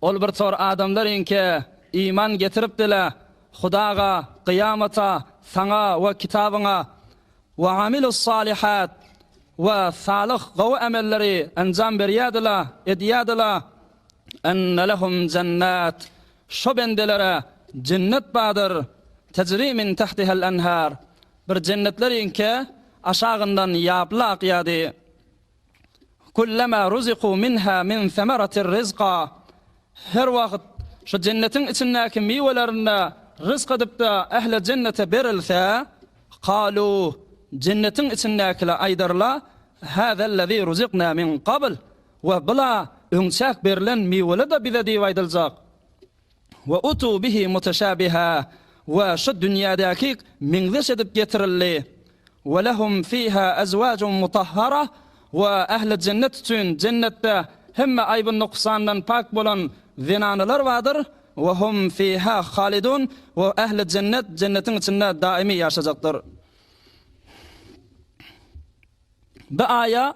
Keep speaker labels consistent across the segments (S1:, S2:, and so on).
S1: Ol bir tor adamlar iňkä iman getiripdi-le, Hudaga, Kyýamata, Saňa we Kitabyňa, we amilussalihät, we salyh, gowy emelleri enjam berýärdi-le, edýärdi-le, Enne lehum jennat, Şo bendelere jennet bardyr, tejri min tahtihal anhar, Bir jennetler iňkä aşagyndan ýaply akýardy. Kullama ruziku minha min semeratir rizqa, Her wagt şu jennetiň içindäki miwelerinde rysk edipde ähli jennete berilse, kalu, jennetiň içindäkiler aýdarlar, Hazallazi ruzikna min gabl, we bula öňçäk berilen miweli-de bize diýip aýdyljak. Ve utu bihi muteşabiha, ve şu dünýädäki meňzeş edip getirildi. Ve lehum fiha ezwacun mutahhara, ve ähli jennet üçin jennetde hemme aýby nuksandan pak bolan zenanalar bardyr, ve hum fiha halidun, ve ähli jennet jennetiň içinde daimi ýaşajakdyr. Bu aýa.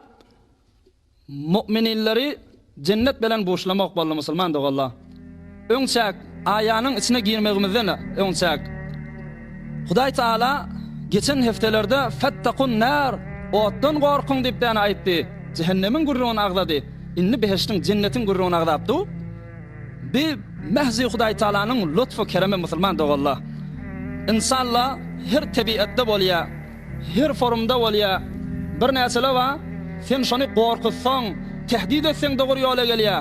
S1: Mu'mininleri jennet belen buşlamak boldy musulman doganlar. Öň çäk aýanyň içine girmegimizden öň çäk Hudaý Taala geçen hepdelerde Fettakun nar, otdan gorkuň diýip däne aýtdy. Jehennemiň gürrüňini agzady. Indi behiştiň, jennetiň gürrüňini agzap dur. Bi mähzi Hudaý Taalanyň lutfu keremi musulman doganlar. Ynsanlar her tebiatda bolýar. Her forumda bolýa. Birnäçele ba, sen şony gorkuzsaň, tehdit etseň dogry ýola gelýä.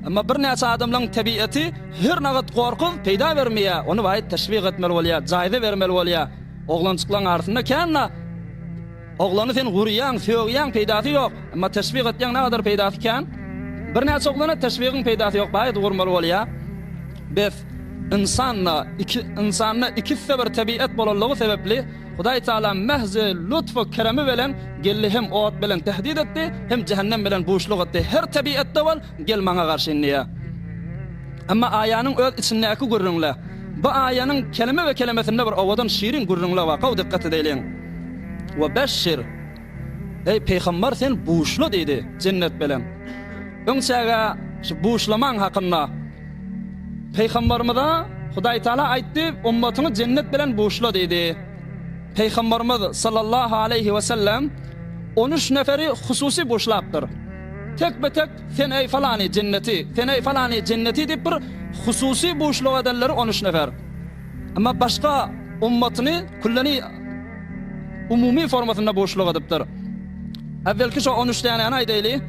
S1: Emma birnäçe adamlaň tebieti her nagat gorkuz peýda bermeýä, ony baýt teşwik etmeli bolýa, jaýza bermeli bolýa. Oglanjyklaň arasynda kän na, oglany sen gurýaň, sögýäň peýdasy ýok, emma teşwik etýäň nagadar peýdasy kän. Birnäçe oglana teşwigiň peýdasy ýok baýt gurmaly bolýa. Bes, ynsan na, iki, ynsanda ikisde bir tebiet bolanlygy sebepli, Hudaý Tagala mähzi, lutfy, keremi bilen geldi hem ot bilen tehdit etdi, hem jähennem bilen buşluk etdi, Her tebiatda bol, gel Maňa garşy inniýe. Emma aýanyň öz içindäki gürrüňle, bu aýanyň keleme we kelemesinde bir owadan şirin gürrüňle bar, gowy dykgat edeliň. Webesşir. Eý, pygamber, sen buşla diýdi, jennet bilen. Öňçäge şu buşlamaň hakynda pygamberimize Hudaý Taala aýtdy, ummatyňy jennet bilen buşla diýdi. Pygamberimiz sallallahu aleýhi we sellem on üç neferi hususy buşlapdyr. Tek be tek sen eý falany jenneti, sen eý falany jenneti diýip bir hususy buşluk edenleri on üç nefer. Emma başga ummatyny külleni umumy formasynda buşluk edipdir. Äwvelki şo on üç dänäni aýdaýly.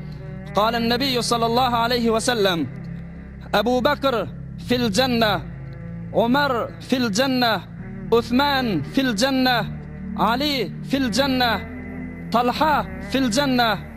S1: Galen Nebiýu sallallahu aleýhi we sellem Ebu Bekr fil jenne, Omar fil jenne, Usman fil jenne, Ali fil jenne, Talha fil jenne.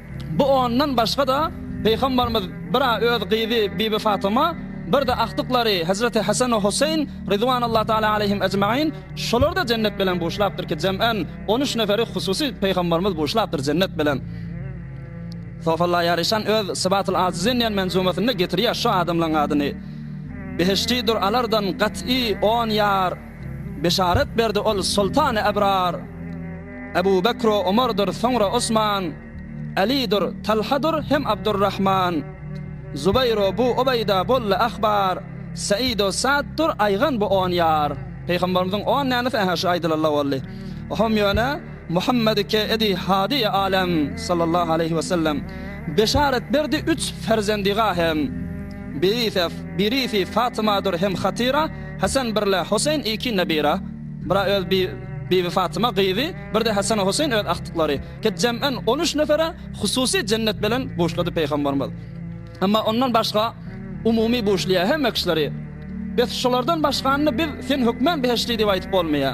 S1: Bu ondan başga-da, Pygamberimiz bir-ä öz gyzy Bibi Fatyma, bir-de agtyklary Hezreti Hesen we Hoseýn, Ridwanallahu Teala Aleýhim Ejmain, şolary-da jennet bilen buşlapdyr ki, jemän on üç neferi hususy Pygamberimiz buşlapdyr jennet bilen. Sofalla Ýaryşan öz Sybatul Azizin diýen menzumasynda getirýär şu adamlaryň adyny. Behiştidur alardan gat'y on ýar. Beşarat berdi ol soltany ebrar. Ebu Bekr-u Omardyr, soňra Osman, Älidir, Talhadyr hem Abdurrahman. Zubaýr-u bu Ubaýda boldy ahbar, Säid-u Sa'ddyr aýgan bu on ýar. Pygamberimiziň on nänifi ähä şu aýdylanda boldy. Ohomm ýöne Muhammedi ke edi hadiýi alem sallallahu aleýhi we sellem. Beşarat berdi üç ferzendiga hem. Birisi, birisi Fatymadyr hem Hatyra. Hasan birle Hoseýn iki nebira, bira öz bi Bibi Fatyma gyzy, birde Hasana Hoseýn öz agtyklary, ket jem'en on üç nefere hususy jennet belen buşlady Peýgamberimiz. Emma ondan başga umumy buşlaýa hemme kişileri. Bes şolardan başganyny biz sen hökmen behişdi diýip aýtyp bolmaýa.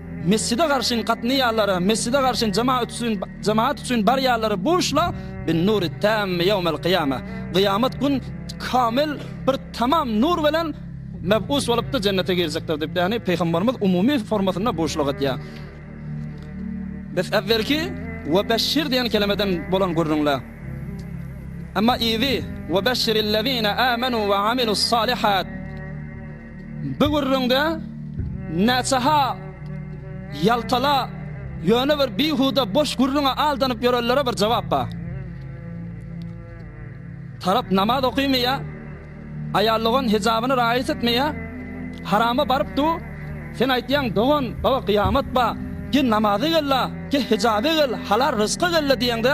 S1: Mesjide garşyn gatnaýanlara, mesjide garşyn jemaat üçin, jemaat üçin barýanlara buşla bin nuri tammi ýawmel kyýama. Kyýamat gün kamil bir tamam nur bilen mebus bolupdy jennete girjekdir diýip, ýagny pygamberimiz umumy formasynda buşluk etýär. Biz äwelki we beşşir diýen kelemeden bolan gürrüňle. Emma ýygy we beşşirillezine amanu we amilus salihat. Bu gürrüňde näçe-ha ýaltala, ýöne bir bihuda boş gürrüňe aldanyp ýörenlere bir jogap bar. Tarap namaz okaýmaýar, aýallygan hejabyny raýat etmeýär, harama baryp dur, sen aýtýaň dogan, baba gyýamat bar, gel namaza gel-la, gel hejaba gel, halal ryzka gel-la diýeňde,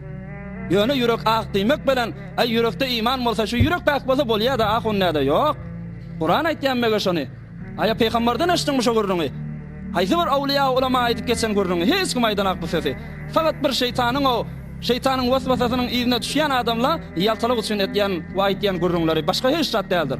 S1: Ýöne ýürek ak diýmek bilen, aý ýürekde iman bolsa şu ýürek päk bolsa bolýada ahun näde ýok. Kuran aýtýa mege şony. Aýa peýgamberden eşitdiňmi şu gürrüňi. Haýsy bir awlyýa ulama aýdyp geçen gürrüňi hiç kim aýdanok bu sözi. Fakat bir şeýtanyň ow şeýtanyň waswasasynyň yzyna düşýän adamla ýaltalyk üçin etýän we aýtýan gürrüňleri başga hiç zat däldir.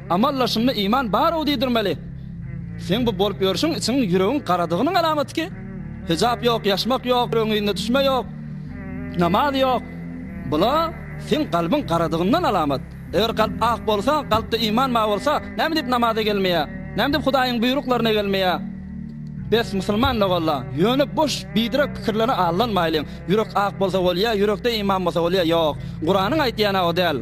S1: Amallaşynda iman bar-ow diýdirmeli. Seň bu bolup ýörşüň içiň ýüregiň garadygynyň alamaty ki. Hijap ýok, ýaşmak ýok, ýüregiň yzyna düşme ýok, namaz ýok. Bula seň galbyň garadygyndan alamat. Eger galp ak bolsa, galpda iman bar bolsa, näme diýip namaza gelmeýä? Näme diýip Hudaýyň buýruklaryna gelmeýä? Bes, musulman logalla. Ýöne boş, biderek pikirlere aldanmaýlyň. Ýürek ak bolsa bolýa, ýürekde iman bolsa bolýa, ýok. Kuranyň aýtýany-a o däl.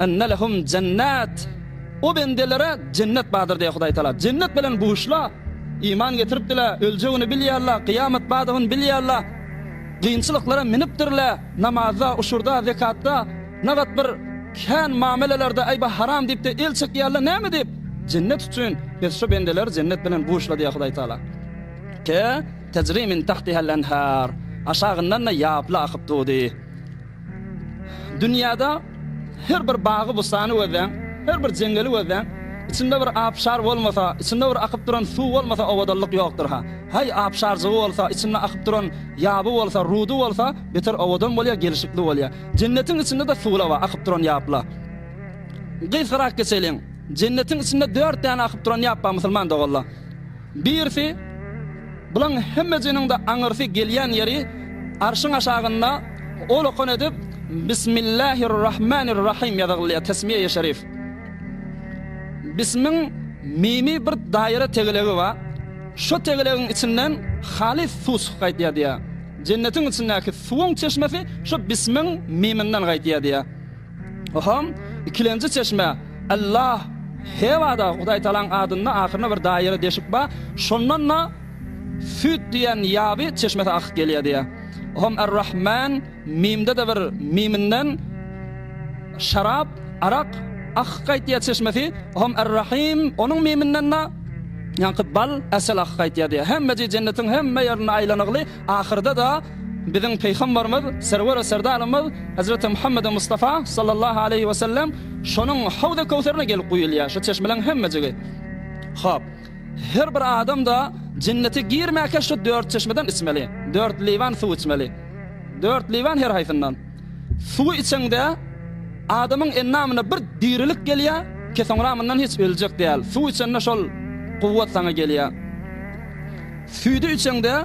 S1: Enne lehum jennet. O bendelere jennet bardyr diýýär Hudaý Tagala. Jennet bilen buşla. Iman getiripdiler, öljegini bilýärler, kyýamat bardygyny bilýärler. Kynçylyklara minipdirler, namazda, uşurda, zekatda, nagat bir kän mamelelerde aýba haram diýipde el çekýärler, näme diýip? Jennet üçin. Biz şu bendeleri jennet bilen buşla diýýär Hudaý Tagala. Te, tejri min tahtiha-l-enhar. Aşagyndan-da ýaply akyp durdy. Dünýäde her bir bagy-bussany gözläň, her bir jeňňeli gözläň, içinde bir abşar bolmasa, içinde bir akyp duran suw bolmasa owadanlyk ýokdur-ha. Haý, abşarjygy bolsa, içinde akyp duran ýaby bolsa, rudy bolsa, beter owadan bolýar, gelşikli bolýar. Jennetiň içinde-de suwlawa, akyp duran ýapla. Gysgarak geçeliň. Jennetiň içinde dört däne akyp duran ýap bar, musulman doganlar. Birisi, Bulaň hemmejiniň-de aňyrsy gelýän ýeri Arşyň aşagynda ol okan edip Bismillahir-Rahmanir-Rahym ýazygylýar, tesmiýeýi şerif. Bismiň mimi bir daýra tegelegi bar, şo tegelegiň içinden halys suw çykyp gaýtýar diýýär. Jennetiň içindäki suwuň çeşmesi şo bismiň miminden gaýtýar diýýär. Oham, ikilenji çeşme, Allah, Hewada Hudaý Tagalaň adynda ahyrynda bir daýry deşik bar, şondan-da Süt diýen ýaby çeşmesi akyp gelýär diýýär. Oham Ar-Rahman, Mimde-de bir Miminden şarap, arak, akyp gaýtýar çeşmesi, oham Ar-Rahim, onuň Miminden-de ýaňky bal, asal akyp gaýtýar diýýär. Hemmeji jennetiň hemme ýerinde aýlanygly, Ahyrda-da biziň Pygambarymyz, Serwer we Serdarymyz Hezreti Muhammedi Mustafa, sallallahu aleýhi we sellem, şonuň Hawzy Köwserine gelip guýulýar, şu çeşmeleriň hemmejigi. Hop. Her bir adam-da Jennete girmäkä şu dört çeşmeden içmeli. Dört liwan suw içmeli. Dört liwan her haýsyndan. Suwy içeňde adamyň endamyna bir dirilik gelýär, ki soňra mundan hiç öljek däl. Suw içende şol kuwwat saňa gelýär. Süýdi içeňde,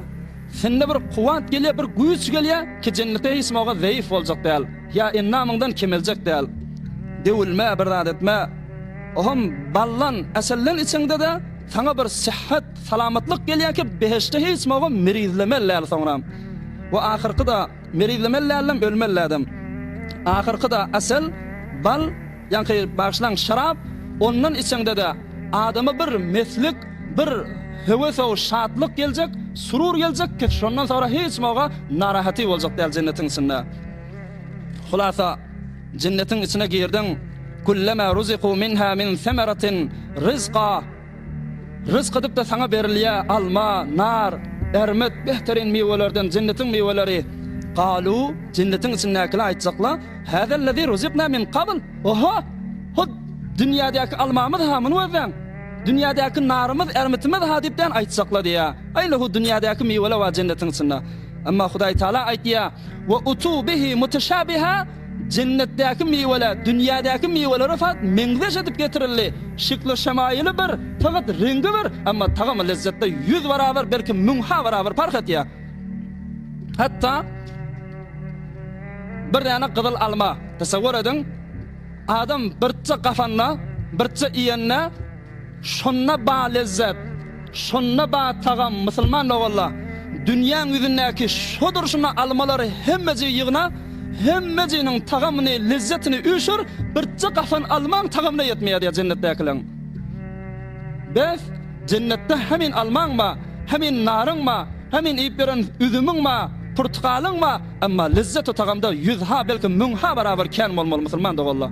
S1: sende bir kuwwat gelýär, bir güýç gelýär, kijenlikde hiç maga zeýif boljak däl, ýa endamyňdan kemeljek däl. Döwülme, bir zat etme. Oham baldan, äselden içeňde-de, saňa bir sähhet, salamatlyk gelýär ki, behişde hiç maga merizlemeli däl soňram. We ahyrky-da, merizlemeli däldem, ölmeli däldem. Ahyrky-da, äsel, bal. Ýaňky bagyşlaň şarap, ondan içeňde-de adama bir meslik, bir höwesow şatlyk geljek, surur geljek ki şondan soňra hiç kim oga narahaty boljak däl jennetiň içinde. Hulasa, jennetiň içine girdiň, Kullama ruziku minha min semeratin rizqa, Rysk edip-de saňa berilýä alma, nar, ärmet, behteryn miwelerden, jennetiň miweleri. Galu, jennetiň içindäkiler aýtjakla, Häzellezî ruziknâ min kabl, Oho! Hut, dünýädäki almamyz-ha muny gözläň! Dünýädäki narymyz, ärmitimiz-ha diýip dän aýtjakla diýýä. Aýla hut dünýädäki miweler bar jennetiň içinde. Emma Hudaý Tagala aýtýa, Wa utu bihi muteshâbihâ, Jennetdäki miweler dünýädäki miwelere fat meňzeş edip getirildi. Şekli şemaýyly bir, fakat reňgi bir, emma tagamy lezzetde ýüz barabar belki müň ha barabar parh etýär. Hatda bir däne gyzyl alma, tesewwür ediň, adam birtje gafanda, birtje iýende, Şonda bar lezzet, şonda bar tagam Musulman dogalla, dünýäň ýüzündäki şo durşuna almalary hemmejigi ýygna, hemmejiniň tagamyny, lezzetini üýşür, birje gapan almaň tagamyna ýetmeýär diýýär jennetdäkileň. Bes, jennetde hemin almaň bar, hemin naryň bar, hemin iýip ýören üzümiň bar, purtgalyň bar, emma lezzet-u tagamda ýüz ha, belki müň ha barabar kän bolmaly Musulman dogalla.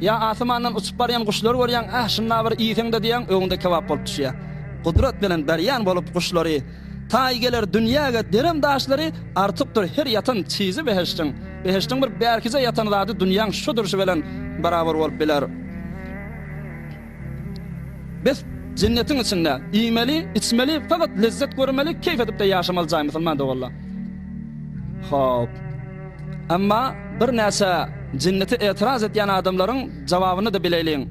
S1: Ýa asymandan uçup barýan guşlary görýäň, Äh, şundabir iýseň-de diýýäň, öňüňde kebap bolup düşýär. Gudrat bilen berýän bolup guşlary, Taý geler dünýäge derem daşlary, Artykdyr her ýatan çyzy behiştiň. Behiştiň bir bärkije ýatan zady dünýäň şu durşy bilen barabar bolup biler. Bes, jennetiň içinde iýmeli, içmeli, fakat lezzet görmeli, keýf edip-de ýaşamaly jaý musulman doganlar. Hop. Emma birnäçe jennete etiraz etýän adamlaryň jawabyny-da bileýliň.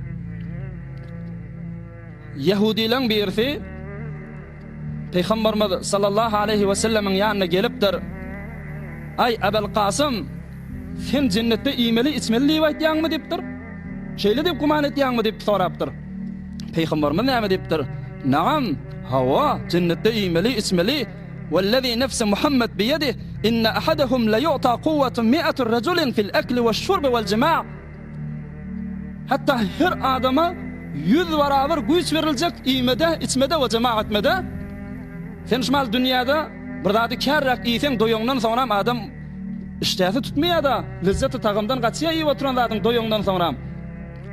S1: Ýehudileň birisi, Pygamberimiz sallallahu aleýhi we sellemiň ýanyna gelipdir. Aý, Ebul Kasym, sen jennetde iýmeli-içmeli diýip aýtýaňmy diýipdir. Şeýle diýip güman etýäňmi diýip sorapdyr. Pygamberimiz näme diýipdir? Nagam, hawa, jennetde iýmeli, içmeli. Wellezî nefsi Muhammed biýedih, inne ahadahum laýu'ta kuwwatu mi'atu rejulin fil ekli weş-şurbi wel-jima'. Hatda her adama ýüz barabar güýç beriljek iýmede, içmede we jema etmede. Sen şu maly dünýäde bir zady kärräk iýseň, doýaňdan soňram adam işdäsi tutmaýar-da, lezzeti tagamdan gaçýar iýip oturan zadyň doýaňdan soňram.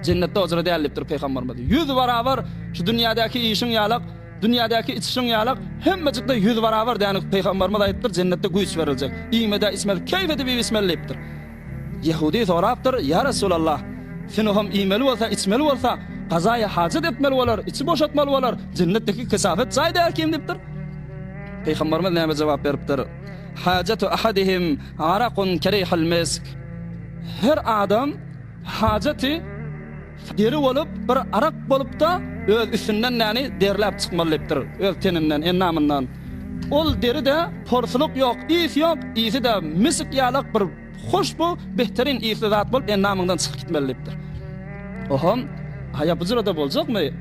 S1: Jennetde ojra däl diýipdir Pygamberimiz. Ýüz barabar şu dünýädäki iýişiň ýalak, dünýädäki içişiň ýalak, hemmejikde ýüz barabar dänik Pygamberimiz aýdypdyr, jennetde güýç beriljek. Iýmede, içmede keýp edip iýip içmeli diýipdir. Ýehudy sorapdyr, Ýa Resulallah! Sünuham iýmeli bolsa, içmeli bolsa, gazaýy hajat etmeli bolar, içi boşatmaly bolar, jennetdeki kesafet jaý däl kim? diýipdir. Pygamberimiz näme jogap beripdir? Hajaty ahadihim arakun kerihil misk. Her adam hajaty Deri bolup, bir arak bolup-da, öz üstünden näni derläp çykmaly diýipdir, öz teninden, endamyndan. Ol deri-de porsulyk ýok, ys ýok, ysy-da misik ýalak bir hoşbu, behterin ysly zat bolup endamyňdan çykyp gitmeli diýipdir. Ohom, haýa bujurada boljakmy?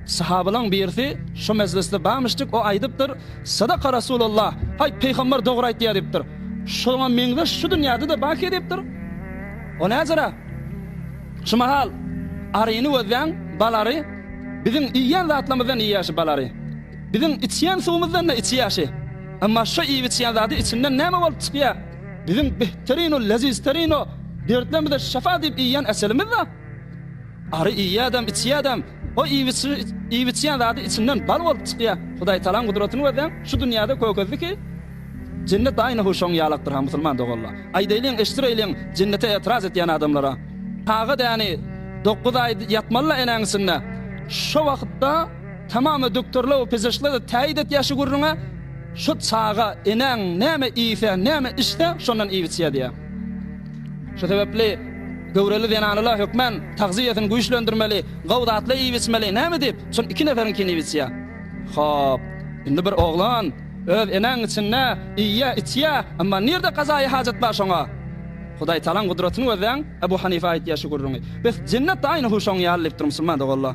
S1: Sahabalaň birisi şo mejlisde bamyşjyk, o aýdypdyr, Sadaka Rasulullah, aý, Pygamber dogry aýtýar diýipdir. Şoňa meňzeş şu dünýäde-de baki diýipdir. O näjera? Şu mahal aryny gözläň, bal ary biziň iýýän zatlarymyzdan iýýäşi bal ary. Biziň içýän suwumyzdan-da içýäşi. Emma şu iýip-içýän zady içinden näme bolup çykýa? Biziň behterino o lezizterino, dertlerimize şyfa diýip iýýän eselimiz-da. Ary iýýädem, içýädem. O iýip içýän zady içinden bal bolup çykýa. Hudaýtalaň gudratyny gözläň, şu dünýäde kökezdi ki, jennet aýna hu şoň ýalakdyr ha musulman doganlar. Aýdaýlyň eşdireýliň jennete etraz etýän adamlara. Aga däni dokuz aý ýatmaly la enäň içinde. Şo wagtda tamam doktorlar we pzşlar täýit etýä şu gürrüňe, şo çaga enäň näme iýse, näme içse şondan iýip içýä diýä. Şu sebäpli göwreli zenanala hökmän tagzyýesini güýçlendirmeli, gowy zatlar iýip-içmeli. Näme diýip, şol iki neferiňkini iýip-içýär? Hop, indi bir oglan öz enäň içinde iýýär, içýär, emma nirde gazaýy hajat bar şoňa? Hudaýtalaň gudratyny gözläň, Ebu Hanife aýtýar şu gürrüňi. Bes, jennet-de aýny-hu şoň ýaly diýip dur musulman doganlar.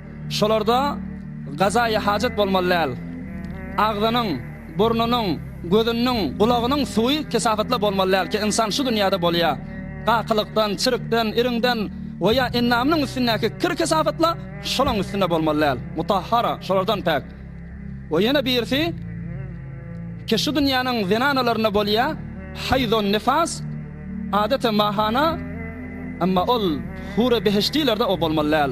S1: Şolarda gazaýy hajat bolmaly däl. Agzynyň, burnunyň, gözünniň, gulagynyň suwy kesafatla bolmaly däl ki, ynsan şu dünýäde bolýa. Gakylykdan, çirkden, iriňden we ýa endamynyň üstündäki kir kesafatla şolaň üstünde bolmaly däl. Mutahhara, şolardan päk. We ýene birisi ki, şu dünýäniň zenanalarynda bolýa, haýzon nifas, adete mahana, emma ol hur-e behişdiler-de o bolmaly däl.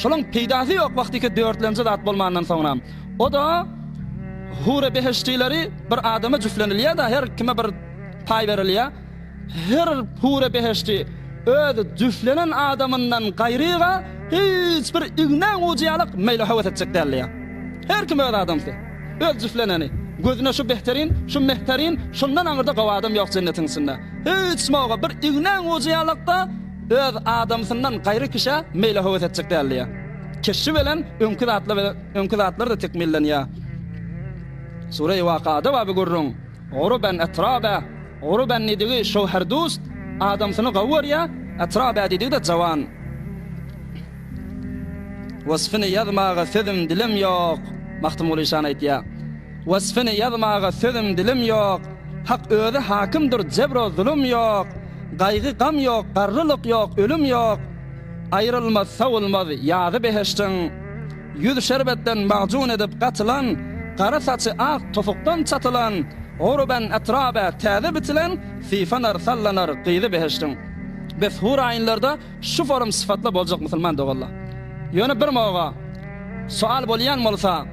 S1: Şolaň peýdasy ýok wagtyky dörtlenji zat bolmandan soňra. O-da Hur-e behiştileri bir adama jüflenilýä-da, her kime bir paý berilýä. Her hur-e behişti öz jüflenen adamyndan gaýryga hiç bir ignäň ujy ýalak meýli höwes etjek däldiýä. Her kim öz adamsy. Öz jüfleneni. Gözüne şu behterin, şu mehterin, şundan aňyrda gowy adam ýok jennetiň içinde. Hiç mowga bir ignäň ujy ýalak-da, Öz adamsyndan gaýry kişä meýle höwes etjek däl diýýär. Keşbi bilen öňki zatlar bilen öňki zatlar-da tekmillenýär. Sure-i Wakada baby gürrüň, Uruben etraba, Uruben diýdigi şöwherdust, adamsyny gawy görýär, etraba diýdigi-de jawan. Wasfyny ýazmaga sözüm, dilim ýok. Magtymguly şany aýtýar. Wasfyny ýazmaga sözüm dilim ýok, Hak özi hakymdyr jebro zulum ýok, Gaýgy gam ýok, garrylyk ýok, ölüm ýok, Aýrylmaz sowulmaz ýazy behiştiň. Ýüz şerbetden magjuny edip gatylan, Gara saçy ak topukdan çatylan, Urban atraba täze bitilen, Sypanar sallanar gyzy behiştiň. Bes hur aýynlarda şu forum sypatla boljak musulman doganlar. Ýöne bir moga sowal bolýan bolsa,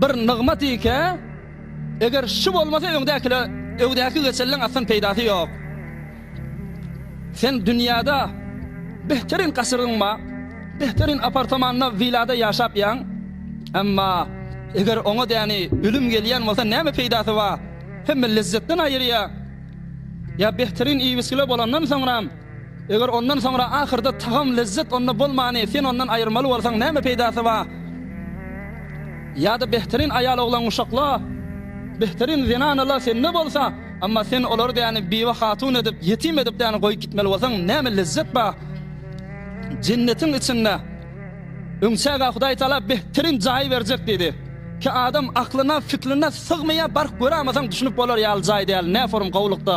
S1: Bir nygmat ikä, eger şu bolmasa öňdäkile, öňdäki geçelliň aslan peýdasy ýok. Sen dünýäde behterin gasyryň bar, behterin apartamanda, willada ýaşap ýaň, emma eger oňa däni ölüm gelýän bolsa näme peýdasy bar? Hemme lezzetden aýyrýar. Ýa behterin iýmiskile bolandan soňram, Eger ondan soňra ahyrda tagam, lezzet onda bolmany sen ondan aýyrmaly bolsaň näme peýdasy bar? Ýa-da behterin aýal-oglan guşakla, behterin zenanala sende bolsa, emma sen olary däni biwe hatun edip, ýetim edip däni goýup gitmeli bolsaň näme lezzet bar? Jennetiň içinde öň çägä Hudaý Taala behterin jaýy berjek diýdi. Ki adam aklyna, fikline sygmaýar, baryp görämasaň düşünip bolar ýaly jaý däl, näforum gowulykda.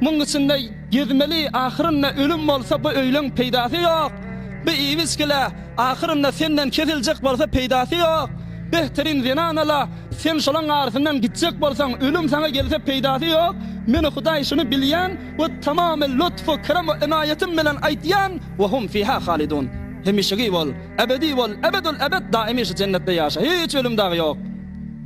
S1: Muň içinde gezmeli ahyrynda ölüm bolsa bu öýleň peýdasy ýok. Bu iwiçkele ahyrynda senden kesiljek bolsa peýdasy ýok. Behterin zenan ala sen şolaň arsyndan gitjek bolsaň ölüm saňa gelse peýdasy ýok. Meni hudaý şuny bilýän we tamamy lutfu kerem we enaýatym bilen aýtýan we hum fiha halidun hemişegi bol ebedi bol ebedül ebed daimi şu jennetde ýaşa hiç ölüm dagy ýok.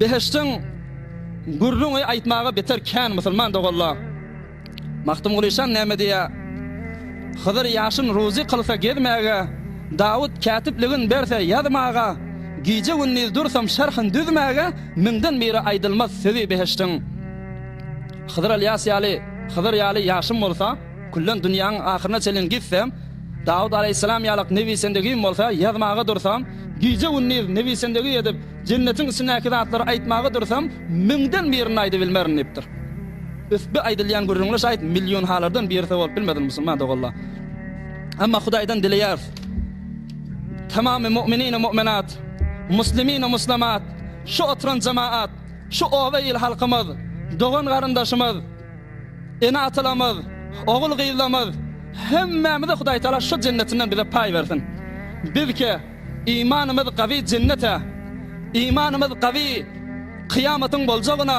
S1: Behiştiň gürrüňi aýtmaga beter kän musulman doganlar. Magtymguly şan näme diýýär? Hydyr ýaşyn ruzy kylsa gezmäge, Dawut kätipligin berse ýazmaga, Gije-gündiz dursam şerhin düzmäge, Müňden biri aýdylmaz sözi behiştiň. Hydyr Ylýas ýaly, Hydyr ýaly ýaşym bolsa, Küllen dünýäň ahyryna çenli gitsem, Dawut alaýhyssalam ýalak nebisendegim bolsa, ýazmaga dursam, gije-gündiz nebisendegi edip, jennetiň içindäki zatlary aýtmaga dursam, müňden birini aýdybilmerin diýipdir. Üstbi aýdylýan gürrüňler şaýt millionhalardan birisi bolup bilmesin musulman doganlar. Emma Hudaýdan dileýäris, tamamy mu'minine mu'minat, muslimine muslamat, şu oturan jemaat, şu oba il halkymyz, dogan-garyndaşymyz, Ene-atalarymyz, ogul-gyzlarymyz, hemmämizi Hudaýtagala şu jennetinden bize paý bersin. Bizkä imanymyz gawy jennete, imanymyz gawy kyýamatyň boljagyna,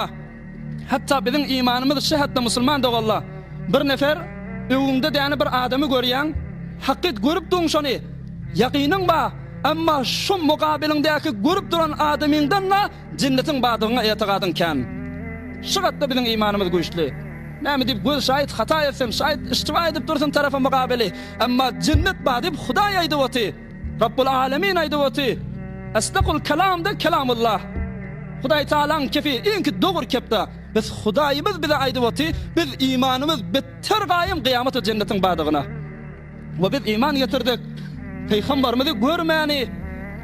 S1: hatda biziň imanymyz şehetde musulman doganla bir nefer öwüňde däne bir adamy görýäň, hakyt görüpdiň şony, ýakynyň ba, emma şu mukabiliňdäki görüp duran adamyňdan-da Jennetiň bardygyňa etigadyň kän. Şu gatda biziň imanymyz güýçli. Näme diýip göz şaýyt hata etsem, şaýyt iştiba edip dursun tarapa mugabyly. Emma jennet bar diýip Hudaý aýdyp oty. Rabbul Alemin aýdyp oty. Esdakul kelamda kelamullah. Hudaý Tagalaň kepi iňki dogry kepda. Biz Hudaýymyz bize aýdyp oty, biz imanymyz betder gaýym gyýamat we jennetiň bardygyna. We biz iman getirdik. Pygamberimizi görmäni,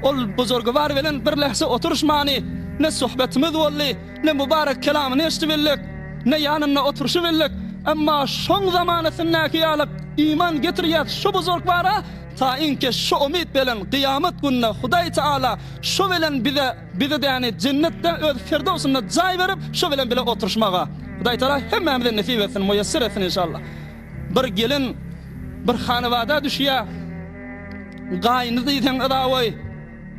S1: ol Buzurgwar bilen bir lähze oturyşmany, ne söhbetimiz boldy, ne mübarek kelamyny eşidi bildik, ne ýanynda oturyşy bildik, emma şoň zamanasyndaky ýaly iman getirýäs şu Buzurgwara, taýynki şu umyt belen gyýamat gününe Hudaý Taala şu bilen bize bizi däni jennetde öz firdowsynda jaý berip şu bilen bile oturyşmaga. Hudaý Taala hemmämize nesip etsin, muýesser etsin inşallah. Bir gelin bir hanabada düşýär. Gaýyny diýseň yzawaý,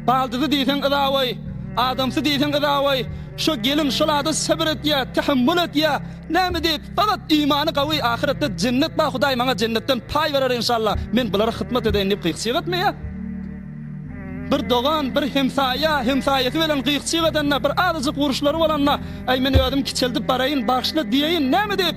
S1: baldyzy diýseň yzawaý, adamsy diýseň yzawaý. Şo gelin şol ada sebir etýär, tähemmül etýär. Näme diýip, faqat imany gawy, ahyretde jennet bar, Hudaý maňa jennetden paý berer enşalla, men bulara hyzmat edeýin diýip gyk-çyk etmeýär. Bir dogan, bir hemsaýa, hemsaýasy bilen gyk-çyk edende, bir azajyk uruşlary bolanda, Äý, men özüm kiçeldip baraýyn, bagyşla diýeýin. Näme diýip?